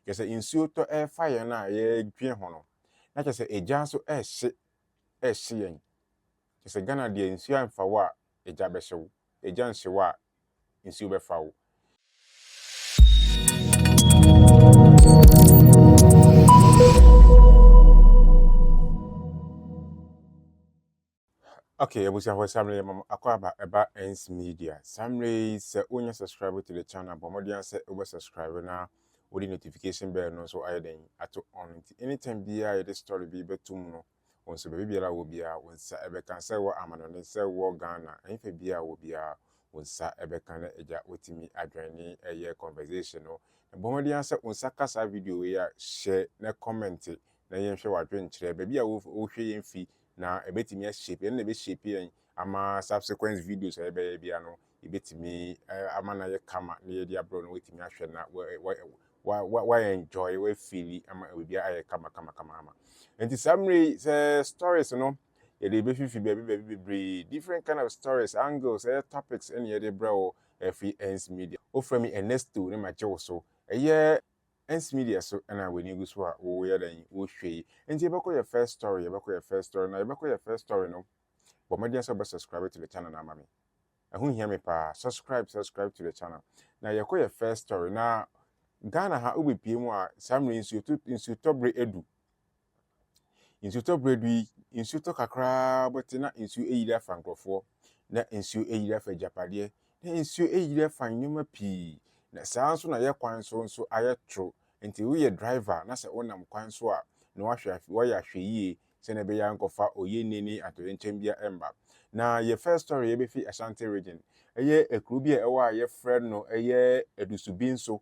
Kyerɛ sɛ nsuo tɔ ɛrefa yɛn a yɛredwen ho no na kyerɛ sɛ egya nso ɛrehye ɛrehye yɛn. Kyerɛ sɛ Ghana deɛ nsuo amfa wo a egya bɛhye wo, egya nhye wo a nsuo bɛfa wo. Okay, abusuafo saa mmerɛ yɛ mam akɔ aba ɛba Ends Media. Saa mmerɛ yi sɛ wonya subscribe to the channel bɔ mmɔden ara sɛ wobɛ subscribe na wode notification bell no nso ayɛ dɛn ato on nti anytime biara yɛde story bi bɛto mu no wɔn nso baabi biara wɔ biara wɔn nsa ɛbɛka sɛ wɔ amanɔne sɛ wɔ Ghana ɛmfa biara wɔ biara wɔn nsa ɛbɛka na agya wotumi adwɛn ne ɛyɛ conversation no na bɔ mmɔden ara sɛ wɔn nsa ka saa video wei a hyɛ na comment na yɛnhwɛ w'adwenkyerɛ baabi a wohwɛ yɛn fi na ɛbɛtumi a shape yɛn, ɛno na ɛbɛ shape yɛn ama subsequent videos a yɛbɛyɛ biara no, yɛbɛtumi ama no ayɛ kama na yɛde abrɛ no watumi ahwɛ na wa enjoy, wa feel ama biribiara ayɛ kama kama kama ama. Nti saa mmerɛ yi sɛ stories no yɛde bɛfifi baabi baabi bebree different kind of stories angles ɛyɛ topics ɛne yɛde brɛ wo ɛfiri ends media wofrɛ me Ernesto ne magye wo so ɛyɛ Ernst media so na w'ani gu so a woyɛ dɛn wohwɛ yi nti yɛbɛkɔ yɛ first story yɛbɛkɔ yɛ first story na yɛbɛkɔ yɛ first story no bɔ mmɔden sɛ wobɛ subscribe to the channel no ama me ɛho hia me paa subscribe subscribe to the channel na yɛkɔ yɛ first story na Ghana ha wobɛpie mu a saa mmerɛ nsuo to nsuo tɔbere adu Nsutɔ berɛ du yi, nsuo tɔ kakraa bɔte na nsuo ayiri afa nkurɔfoɔ, na nsuo ayiri afa agyapadeɛ, na nsuo ayiri afa nneɛma pii, na saa nso na yɛ kwan so nso ayɛ toro. Nti woyɛ driver na sɛ wonam kwan so a, na wahwɛ ahwɛ wayɛ ahwɛyie sɛdeɛ ɛbɛyɛ a nkɔfa oyɛnni ne atoyɛnkyɛm biara mma. Na yɛ first story yɛbɛfi Ashanti region, ɛyɛ ekuro bi a ɛwɔ a yɛfrɛ no ɛyɛ Adusu Binso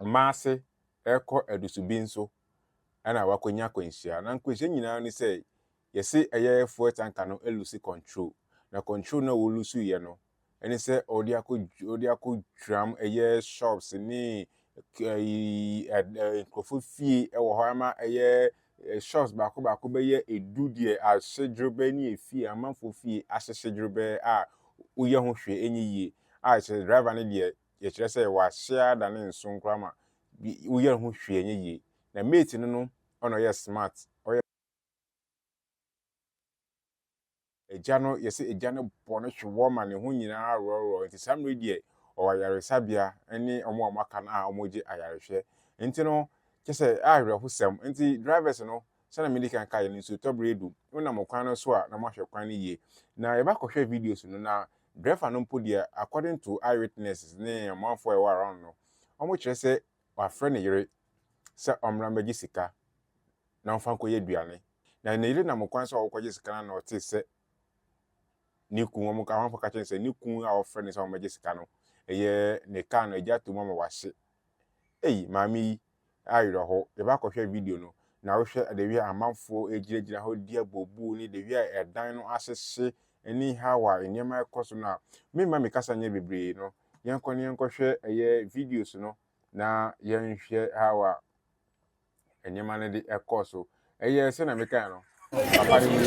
Ɔmaa ase rekɔ adusuben so na wakonya akwanhyia. Na nkwanhyia nyinaa ne sɛ yɛse ɛyɛ fuel tanker no lose control. Na control no a ɔlusu yɛ no ne sɛ ɔde akɔ ɔde akɔ dwiram ɛyɛ shops ne ɛyi nkurɔfo fie ɛwɔ hɔ ama ɛyɛ shops baako baako bɛyɛ edu deɛ ahye dworobɛ ne efie amanfo fie ahyehye dworobɛ a woyɛ ho hwee enye yie a kyerɛ driver no deɛ yɛkyerɛ sɛ w'ahyɛ ara da ne nso nkora ma bi woyɛ ho hwee ɛnyɛ yie na mate no no ɔna ɔyɛ smart ɔyɛ agya no yɛsɛ agya no bɔ no hwe wɔ ma ne ho nyinaa aworɔworɔ nti saa mmere deɛ ɔwɔ ayaresabea ne ɔmo a ɔmo aka no a ɔmo gye ayarehwɛ nti no kyɛ sɛ awerɛhosɛm nti drivers no Sɛnea midi kan kae no, nsuotɔ bere adu. Wonam ɔkwan no so a, na moahwɛ kwan no yiye. Na yɛba kɔhwɛɛ videos no, na driver no mpo deɛ, according to eyewitnesses ne amanfoɔ a ɛwɔ around no, wɔkyerɛ sɛ wafrɛ ne yere sɛ ɔmmra mmɛgye sika na ɔmfa nkɔyɛ aduane. Na ne yere nam kwan so a ɔrekɔgye sika no ara na ɔtee sɛ ne kunu, wɔn amanfoɔ ka kyerɛ no sɛ ne kunu a ɔfrɛ no sɛ ɔmmɛgye sika no, ɛyɛ ne car no agya ato mu ama wahye. Ei, maame yi, awerɛhow. Yɛ ba kɔhwɛ video no, na wohwɛ adawia a amanfo gyinagyina hɔ redi abooboo ne dawia a ɛdan no ahyehye ne haw a nneɛma rekɔ so no a. Meremma me kasa nyɛ bebree no, yɛnkɔ na yɛnkɔhwɛ ɛyɛ videos no na yɛnhwɛ haw a nneɛma no de kɔɔ so. Ɛyɛ sɛ na mekae no. Papa no nim.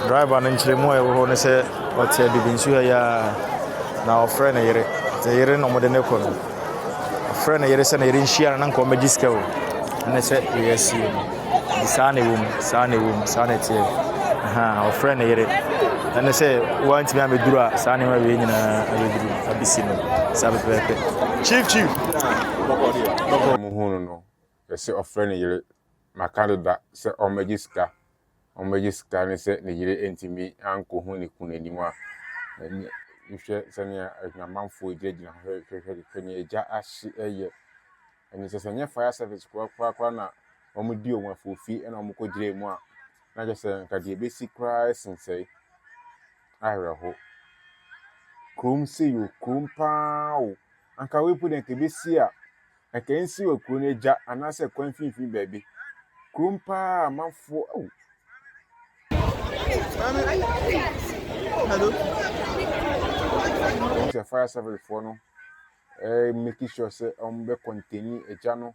Driver no nkyerɛmu a ɛwɔ hɔ ne sɛ ɔte adibi nsuo ha yi ara na ɔfrɛ ne yere. Te yere na wɔde no kɔ no. Ɔfrɛ ne yere sɛ ne yere nhyia no na nka wɔmmɛgye sika o. Ɛne sɛ wei asie no. Nti saa na ɛwom, saa na ɛwom, saa na ɛteɛ. Ahaa, ɔfrɛ ne yere. Ɛne sɛ, woantumi amɛduru a, saa nneɛma wei nyinaa abɛduru, abɛsi no. Saa pɛpɛɛpɛ. Chief, chief. Bɔkɔ deɛ, bɔkɔ. Ɛmu hu no no, ɛsɛ ɔfrɛ ne yere. Maka deda sɛ ɔmmɛgye sika. Ɔmmɛgye sika ne sɛ ne yere antumi ankɔhu ne kunu anim a, ɛnyɛ. Nhwɛ sɛnea adwamanfoɔ gyinagyina hɔ hwɛ, hwɛ, hwɛ, hwɛ nea agya ahye yɛ. Ɛno kyerɛ sɛ ɛnyɛ fire service koraa koraa koraa na wɔde wɔn afiri fi na wɔkɔgyinaa mu a, na kyerɛ sɛ nka deɛ ɛbɛsi koraa sen sɛe. Awerɛho. Kurom sei o, kurom paa o. Anka wei mpo deɛ nka ɛbɛsi a, anka ɛnsi wɔ kuro no agya anaasɛ kwan mfimfini baabi. Kurom paa amanfoɔ o. Hello. Sɛ fire service foɔ no make sure sɛ wɔbɛ containi egya no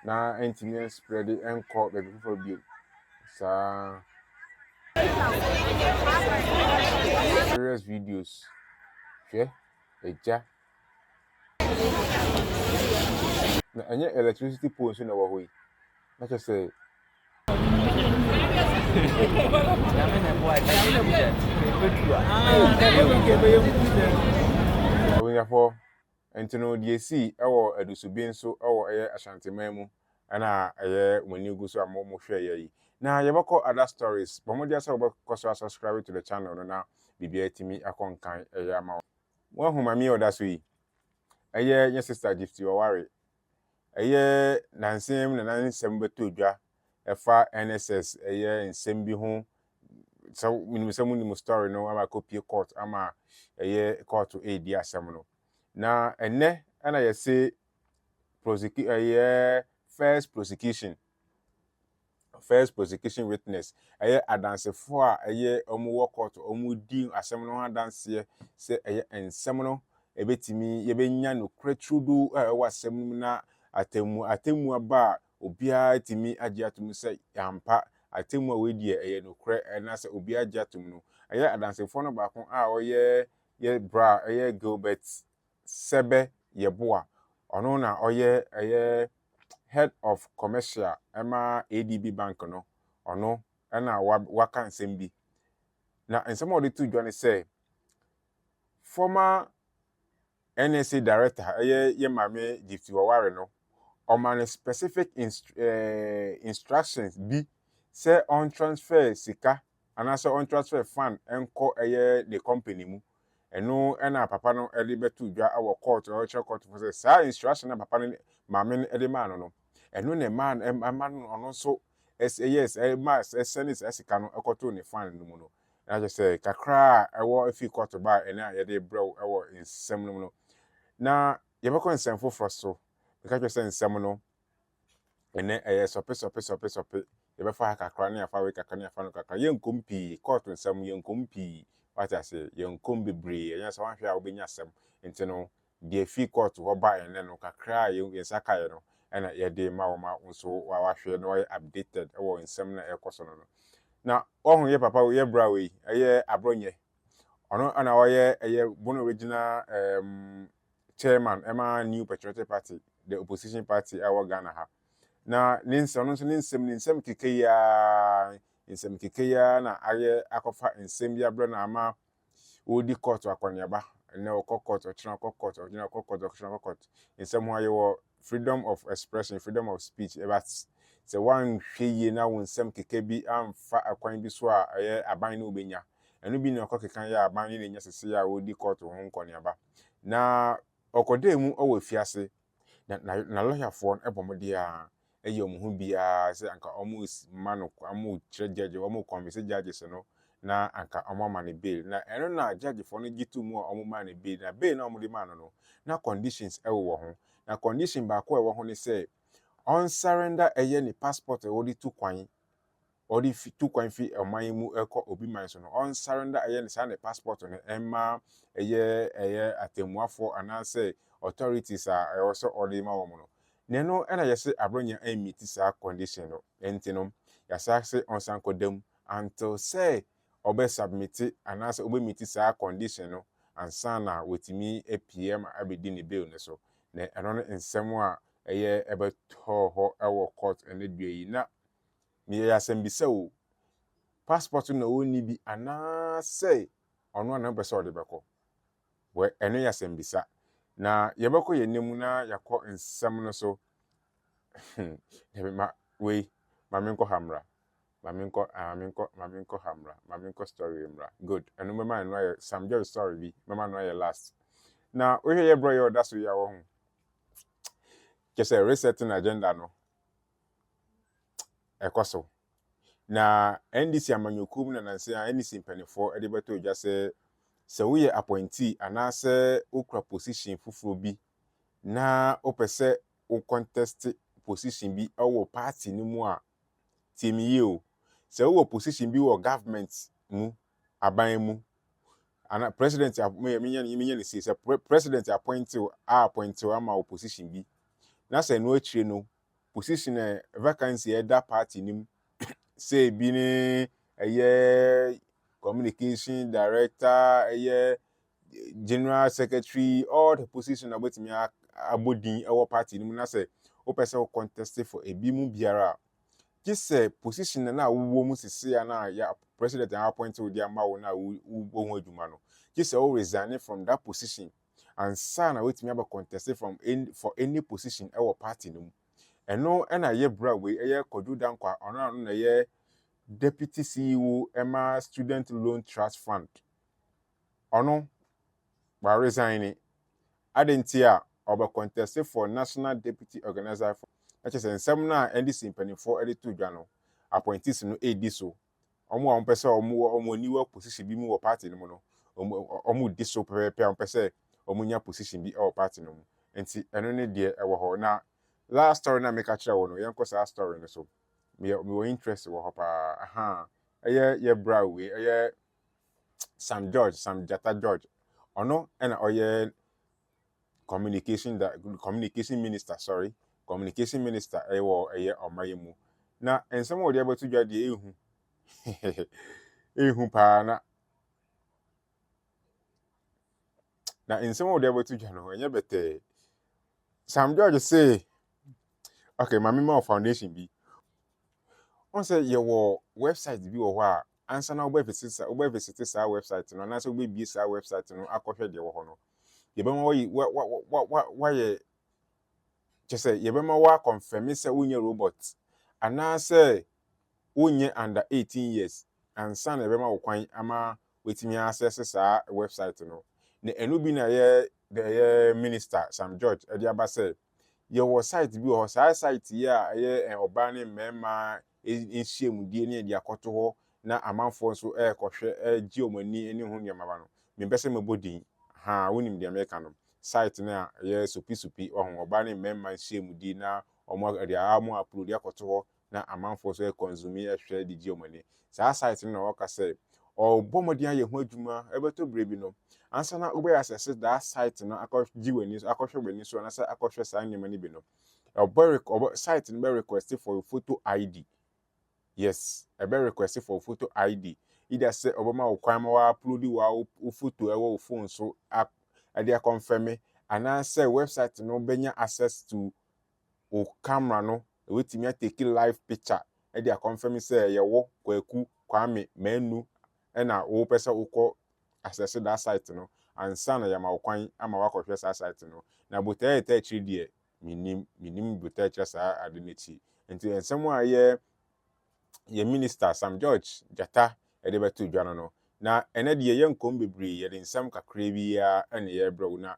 na ɛntumi ɛnspread ɛnkɔ baabi foforɔ bio saa serious videos hwɛ egya na ɛnyɛ electricity pole nso na ɛwɔ hɔ yi na kyerɛ sɛ abusuafoɔ nti no deɛ esii wɔ adusubi nso wɔ ɛyɛ ashanteman mu ɛna ɛyɛ wɔn ani gu so a wɔn hwɛ ɛyɛ yi na yɛbɛkɔ other stories bɔn mo deɛ sɛ wɔbɛkɔ so asubscribe to the channel no na biribiara tumi akɔ nkan ɛyɛ ama wɔn wɔn ahu maame ɔda so yi ɛyɛ nyɛ sister gifty ɔware Ɛyɛ nansa yi mu na na nsɛm bɛtɔ dwa ɛfa NSS ɛyɛ nsɛm bi ho sɛ menim sɛ monim story no ama ɛkɔpie court ama ɛyɛ court ɛredi asɛm no na ɛnɛ ɛna yɛse prosecute ɛyɛ first prosecution first prosecution witness ɛyɛ adansefo a ɛyɛ wɔn wɔ court wɔn di asɛm no ho adanseɛ sɛ ɛyɛ nsɛm no ɛbɛtumi yɛbɛnya nokorɛ turudu a ɛwɔ asɛm no mu na atɛmu atɛmu aba a obiara tumi agye atom sɛ yɛampa atɛmu a wɔadi ɛyɛ nokorɛ ɛna sɛ obiara agye atom no ɛyɛ adansefoɔ no baako a ɔyɛ yɛ bra ɛyɛ Gilbert Sɛbɛ Yeboah, ɔno na ɔyɛ ɛyɛ Head of Commercial ɛma ADB Bank no, ɔno ɛna waka nsɛm bi. Na nsɛm a ɔde to dwa ne sɛ, former NSA Director ɛyɛ yɛ maame Gypsy Waware no, ɔma no specific inst eh, instructions bi sɛ ɔntransfer sika anaasɛ ɔntransfer fund nkɔ ɛyɛ ne company mu. Ɛno na papa no de bɛto dwa wɔ court no, ɔkyerɛ court fo sɛ saa instruction no a papa no maame no de maa no no, ɛno na ɛmaa no ɛma no ɔno nso ɛyɛ saa ɛma ɛsɛne saa sika no ɛkɔtoo ne fund no mu no. Na kyerɛ sɛ kakra a ɛwɔ efi court ba a ɛne a yɛde brɛ wo ɛwɔ nsɛm no mu no. Na yɛbɛkɔ nsɛm foforɔ so. Meka kyerɛ sɛ nsɛm no. Ɛnnɛ, ɛyɛ sɔpe sɔpe sɔpe sɔpe. Yɛbɛfa ha kakra na yɛafa wei kakra na yɛafa no kakra. Yɛnkɔm pii. Kɔɔto nsɛm, yɛnkɔm pii. Woate aseɛ? Yɛnkɔm bebree. Ɛnyɛ sɛ woanhwɛ a wobɛnya asɛm. Nti no, deɛ ɛfiri kɔɔto hɔ baeɛ nnɛ no, kakra a yɛn nsa kaeɛ no, ɛna yɛde rema wo ma wo nso woahwɛ na woayɛ updated wɔ nsɛm no a ɛrekɔ so no no. Na woahu yɛ papa wei, yɛ bra wei, ɛyɛ Aborɔnyɛ. Ɔno na ɔyɛ ɛyɛ Bono Regional um, chairman ma New Patriotic Party, the opposition party a ɛwɔ Ghana ha. Na ne nsɛm, ɔno nso ne nsɛm ne nsɛm keke yi ara, nsɛm keke yi ara na ayɛ akɔfa nsɛm bi abrɛ no ama ɔredi court akɔneaba. Ɛnnɛ ɔkɔ court, ɔkyena ɔkɔ court, ɔgyina ɔkɔ court, ɔkyena ɔkɔ court. Nsɛm ho ayɛ wɔ freedom of expression, freedom of speech, but sɛ woanhwɛ yie na wo nsɛm keka bi amfa ɛkwan bi so a ɛyɛ aban na wobɛnya. Ɛno bi na ɛkɔ keka yɛ a aban ne na ɛnya sese a wɔredi kɔɔto ho nkɔneaba. Na ɔkɔdaa mu wɔ afiase, na na n'alɔyafoɔ no bɔ mmɔden ara yɛ wɔn ho biara sɛ anka wɔrema no kwan, wɔrekyerɛ gyagye, wɔrekɔnvinse judges no na anka wɔama no bail. Na ɛno na judgefoɔ no gye too mu a wɔmaa no bail. Na bail no a wɔde maa no no, na conditions wowɔ ho. Na condition baako a ɛwɔ ho ne sɛ, ɔnsurrender ɛyɛ ne passport a wɔde tu kwan, ɔde fi tu kwan fi ɔman yi mu kɔ obi man so no ɔnsarenda ɛyɛ ne saa ne passport no ɛmma ɛyɛ ɛyɛ atɛmmuafoɔ anaasɛ authorities a ɛwɔ sɛ ɔde ma wɔn no na ɛno ɛna yɛse Abrɔnya ɛmmiti saa condition no ɛnti no yɛasaa se ɔnsan kɔ da mu until sɛ ɔbɛ submiti anaasɛ ɔbɛ miti saa condition no ansa na watumi apue ama abɛdi ne bail no so na ɛno ne nsɛm a ɛyɛ ɛbɛtɔɔ hɔ ɛwɔ court ɛnɛ dua yi na Meyɛɛ asɛmbisa o, passport na ɔnni bi anaasɛ ɔno ara na ɔpɛ sɛ ɔde bɛkɔ? Wɛ, ɛno yɛ asɛmbisa. Na yɛbɛkɔ yɛn nna mu na yɛakɔ nsɛm no so. Dabi, ma, wei, ma menkɔ ha mmra. Ma menkɔ, ah, ma menkɔ, ma menkɔ ha mmra. Ma menkɔ story wei mmra. Good, ɛno mɛma ɛno ayɛ, Sam George story bi, mɛma no ayɛ last. Na wohwɛ yɛ brɔ yɛ ɔda so yi a, wɔ ho? Kyɛ sɛ resetting agenda no, ɛkɔ so. Na NDC amanyɔkuo mu na nanse a NDC mpanimfoɔ de bɛtɔ dwa sɛ sɛ woyɛ appointee anaasɛ wokura position foforɔ bi na wopɛ sɛ wo contest position bi wɔ party no mu a, tie me yie o, sɛ wowɔ position bi wɔ government mu, aban mu, ana president menya menya ne sei sɛ president appointee a appointee ama wo position bi na sɛ ɛno akyire no position a vacancy a ɛda party no mu sɛ ebi ne ɛyɛ communication director ɛyɛ general secretary all the position a wobɛtumi abɔ din ɛwɔ party no mu na sɛ wopɛ sɛ wo contest for ebi mu biara a gye sɛ position no a wowɔ mu sese a na yɛ president a appoint wo de ama wo na wobɔ ho adwuma no gye sɛ wo resign from that position ansa na watumi abɛ contest from any for any position wɔ party no mu. Ɛno na ɛyɛ bra wei ɛyɛ Kwadwo Dankwa ɔno ano na ɛyɛ Deputy CEO ɛma Student Loan Trust Fund. Ɔno wa resign adɛn nti a ɔbɛ contest for National Deputy Organiser for na kyerɛ sɛ nsɛm no a NDC mpanyinfoɔ ɛde to dwa no appointees no ɛredi so wɔn a wɔpɛ sɛ wɔn wɔn aniwa position bi mu wɔ party no mu no wɔn wɔn di so pɛpɛɛpɛ a wɔpɛ sɛ wɔn nya position bi wɔ party no mu nti ɛno ne deɛ ɛwɔ hɔ na last story na meka kyerɛ wo no yɛn kɔ saa story no so meyɛ mewɔ interest wɔ hɔ paa aha ɛyɛ yɛ bra wei ɛyɛ Sam George Sam Jata George ɔno ɛna ɔyɛ communication da communication minister sɔre communication minister ɛwɔ ɛyɛ ɔma yɛ mu na nsɛm a wɔde abɛto dwa deɛ ehu ehu paa na na nsɛm a wɔde abɛto dwa no ɛnyɛ bɛtɛɛ sam george se okay maame ma foundation bi wɔn sɛ yɛwɔ website bi wɔ hɔ a ansa na wobɛvisite saa wobɛvisite saa website no anaasɛ wobɛbie saa website no akɔhwɛ deɛ wɔ hɔ no yɛbɛma wayi wa wa wa wa wayɛ kyɛ sɛ yɛbɛma wakɔnfɛme sɛ wonyɛ robot anaasɛ wonyɛ under 18 years ansa na yɛbɛma wo kwan ama watumi asɛse saa website no na ɛno bi na yɛ ɛyɛ minister sam george ɛde aba sɛ yɛwɔ site bi wɔ hɔ saa site yi a ɛyɛ ɔbaa ne mmarima nhyiamudie ne de akɔto hɔ na amanfoɔ nso rekɔhwɛ regye wɔn ani ne ho nneɛma ba no, mempɛ sɛ mɛbɔ din. Haa, wonim deɛ mereka no. Site no a ɛyɛ Sopi Sopi, wahu, ɔbaa ne mmarima nhyiamudie na wɔde a wɔn uploadi akɔto hɔ na amanfoɔ nso rekɔnsumi rehwɛ de gye wɔn ani. Saa site no na wɔka sɛ wɔrebɔ mmɔden ayɛ ho adwuma, ɛbɛtɔ berɛ bi no, ansa na wobɛyɛ asɛse daa site no akɔgye w'ani so, akɔhwɛ w'ani so anaasɛ akɔhwɛ saa nneɛma no bi no, Ɔbɛ rek ɔbɛ site no bɛ request for your photo ID. Yes, ɛbɛ request for photo ID. Either sɛ ɔbɛma wo kwan ma wɔaupload wo wo photo ɛwɔ wo phone so a ɛde akɔnfɛme anaasɛ website no bɛnya access to wo camera no ɛbɛtumi atake live picture ɛde akɔnfɛme sɛ ɛyɛ wo Kwaku Kwame Manu Ɛna wopɛ sɛ wokɔ asɛse daa site no ansa na yɛama wo kwan ama woakɔhwɛ saa site no. Na botae a ɛtaa akyire deɛ mennim, mennim botae a ɛkyerɛ saa ade no akyi. Nti nsɛm a yɛ yɛn minister Sam George Gyata de bɛto dwa no no, na ɛnɛ deɛ yɛnkɔm bebree, yɛde nsɛm kakraa bi ara na yɛrebrɛ wo. Na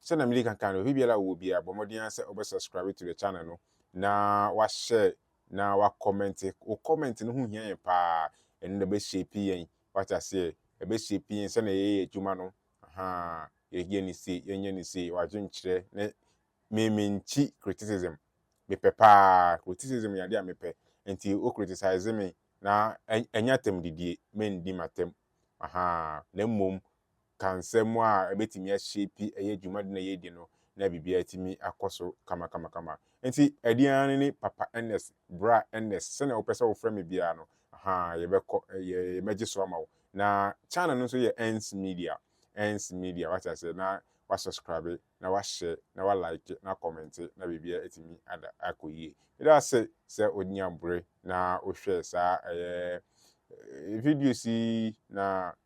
sɛdeɛ medi kan kae no, obi biara a ɔwɔ biara bɔ mmɔden ara sɛ wobɛ subscribe to the channel no na wahyɛ na wa comment wo comment no ho hia yɛn paa ɛno na ɛbɛ shape yɛn wate aseɛ ɛbɛ shape yɛn sɛnea yɛyɛ adwuma no ahaa yɛyɛ ne se yɛnyɛ ne se wadwenkyerɛ ne me menkyi criticism mepɛ paa criticism yɛ adeɛ a mepɛ nti wo criticize me na ɛnyɛ atam didie mendi m'atam ahaa na mmom ka nsɛm a ɛbɛtumi ahyeepi ɛyɛ dwumadi no a yɛredi no na biribiara atumi akɔ so kamakamakama. Nti ɛdeɛn ara ne Papa Ernest, Bra Ernest, sɛdeɛ wopɛ sɛ wofrɛ me biara no, ahaa, yɛbɛkɔ, yɛbɛgye so ama wo. Na channel no nso yɛ Ernst Media, Ernst Media, wate aseɛ, na wasɔskrabe, na wahyɛ, na walike, na akɔmɛnte, na biribiara atumi ada akɔ yie. Meda ase sɛ wonya bere na wohwɛ saa ɛyɛ videos yi, na